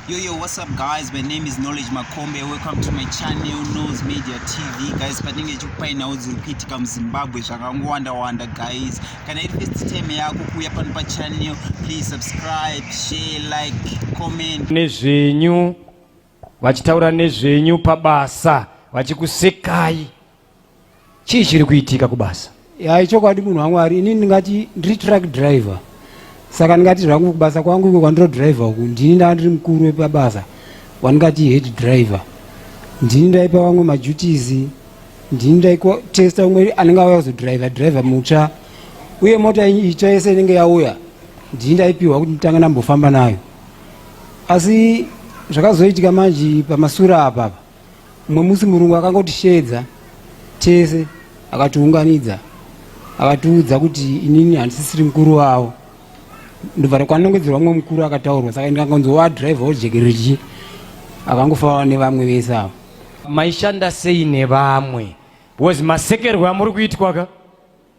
Yo, yo, what's up guys? My name is Knowledge Makombe. Welcome to my channel, Nose Media TV. Guys, patinenge chikupai nhau dziri kuitika muZimbabwe zvakangowanda-wanda guys. Kana iri first time yako kuuya pano pachannel, please subscribe, share, like, comment. Nezvenyu, vachitaura nezvenyu pabasa, vachikusekai. chii chiri kuitika kubasa ya ichokwadi munhu wamwari ini ndingati ndiri truck driver saka ndingati zvangu kubasa kwangu iko kwandiro driver uku ndini ndaa ndiri mukuru wepabasa wandingati head driver ndini ndaipa vamwe maduties ndini ndaitesta umwe anenge auya kuzodriver driver mutsva uye mota itsva yese inenge yauya ndini ndaipiwa kuti nditanga ndambofamba nayo asi zvakazoitika manje pamasura apapa Mumwe musi murungu akangotisheedza tese akatiunganidza akatiudza kuti inini handisisiri mukuru wavo ndobva takwanongedzerwa mumwe mukuru akataurwa saka ndikangonzi wadrive ojekerechi akangofawa nevamwe vese avo maishanda sei nevamwe because masekerwe amuri kuitwa ka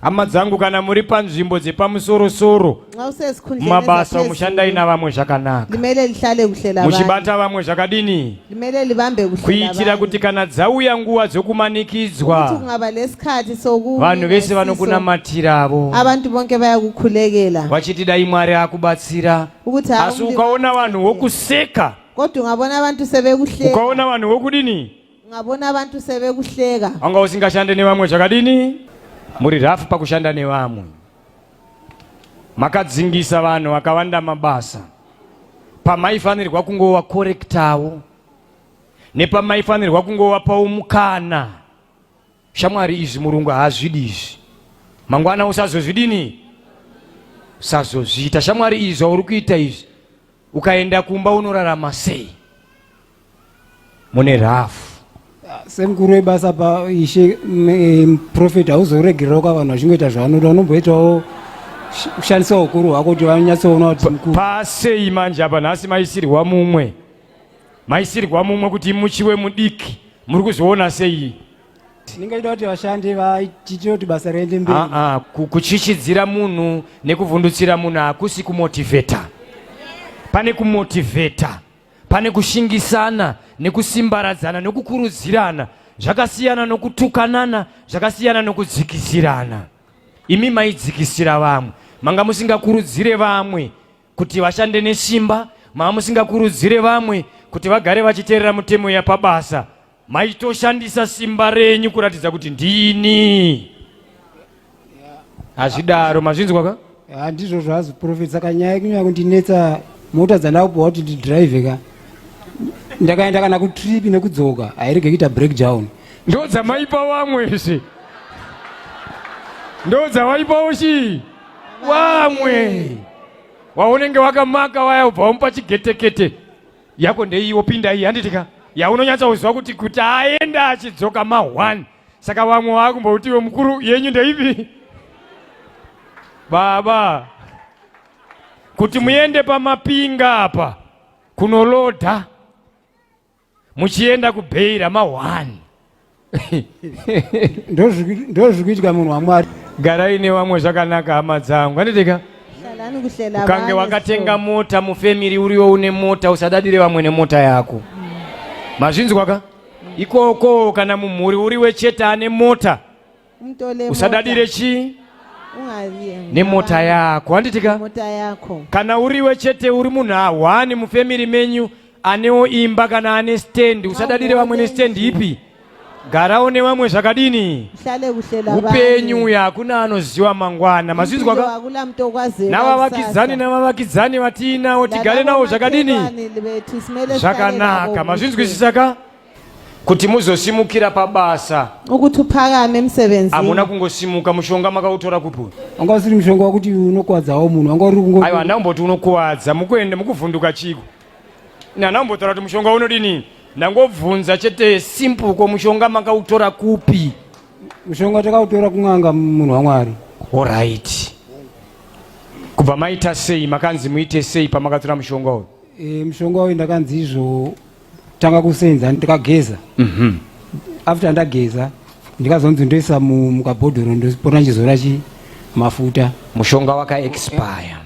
hama dzangu kana muri panzvimbo dzepamusoro soro mumabasa umushandai navamwe zvakanaka muchibata vamwe zvakadini kuitira kuti kana dzauya nguva dzokumanikidzwa vanhu vese vanokunamatiravo vachiti dai mwari akubatsira asi ukaona vanhu vokuseka ukaona vanhu vokudini Ungavona vantu seve kuhleka. Anga usingashande nevamwe zvakadini? Muri rafu pakushanda nevamwe. Makadzingisa vanhu vakawanda mabasa. Pamaifanirwa kungova korektawo. Nepamaifanirwa kungova paumukana. Shamwari izvi murungu haazvidi izvi. Mangwana usazozvidini? Usazozviita. Shamwari izvi zvauri kuita izvi. Ukaenda kumba unorarama sei? Mune rafu. Semukuru webasa pa ishe prophet hauzoregererawo kwa vanhu vachingoita zvavanoda unomboitawo kushandisa ukuru hwako kuti vanyatsoona kuti mukuru. Pasei manje apa nhasi maisirwa mumwe. maisirwa mumwe kuti muchiwe mudiki muri kuzviona sei tinenge tida kuti vashandi vatiitire kuti basa riende mberi ah, ah, kuchichidzira munhu nekuvhundutsira munhu hakusi kumotivheta pane kumotivheta pane kushingisana nekusimbaradzana nokukurudzirana zvakasiyana nokutukanana zvakasiyana nokudzikisirana imi maidzikisira vamwe manga musingakurudzire vamwe kuti vashande nesimba mamusingakurudzire vamwe kuti vagare vachiteerera mutemo yapabasa maitoshandisa simba renyu kuratidza kuti ndini hazvidaro mazvinzwa ka handizvo zvazi profesa kanyaya yekunyaya kundinetsa mota dzandakubhowa kuti ndidrive ka ndakaenda kana kutrip nekudzoka hairege kuita breakdown ndo dzamaipa vamwe izvi ndo dzawaipawo chii vamwe waunenge wakamaka waya ubva wamupa chigetekete yako ndeiwo pinda iyi handitika yaunonyatsauziva kuti kuti aenda achidzoka mahwani saka vamwe waakumboutiwo mukuru yenyu ndeipi baba kuti muende pamapinga apa kunolodha muchienda kubheira ma one ndozvikuitwa munhu wamwari garai nevamwe zvakanaka hama dzangu anditika ukange wakatenga mota mufemiri uriwo une mota usadadire vamwe nemota yako mazvinzwaka ikoko kana mumhuri uriwe chete ane mota usadadire chii nemota yako handitika kana uriwe chete uri munhu ahwani mufemiri menyu anewo imba kana ane stendi usadadire vamwe nestendi ipi garawo nevamwe zvakadini upenyu uyo hakuna anoziva mangwana mazvinzwaka navavakidzani navavakidzani vatiinawo tigare nawo zvakadini zvakanaka mazvinzwisisaka kuti muzosimukira pabasa ukuthi uphakame emsebenzini hamuna kungosimuka mushonga makautora kupi wanga usiri mushonga wakuti unokuwadzawo munhu wanga uri kungo aiwa handina kumboti unokuwadza mukuenda mukuvhunduka chiko handina kumbotaura kuti mushonga unodini ndangobvunza chete simple ko mushonga makautora kupi mushonga takautora kun'anga munhu wamwari orit kubva maita sei makanzi muite sei pamakatora mushonga uyu e, mushonga uyu ndakanzi izvo tanga kusenza ndikageza mm -hmm. after ndageza ndikazonzi ndoisa mukabhodhoro ndopota ndichizora chi mafuta mushonga waka expire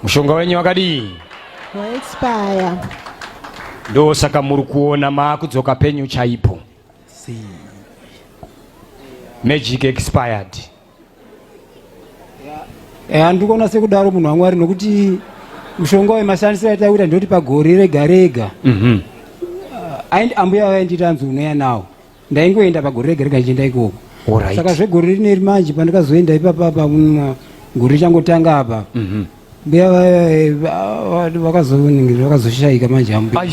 mushonga wenyu wakadii waexpire ndo saka muri kuona maakudzoka penyu chaipo magic expired handiri kuona sekudaro munhu wamwari nokuti mushonga wemashandisiro aita kuita ndoti pagore rega rega mhm. uh, ambuya vainditi anzi unoya nawo ndaingoenda pagore rega rega ndichienda ikoko saka zvegore rineri manje pandikazoenda ipapapa mm, gore richangotanga apa mhm. mbuya vakazoningiri vakazoshaika manje ambuya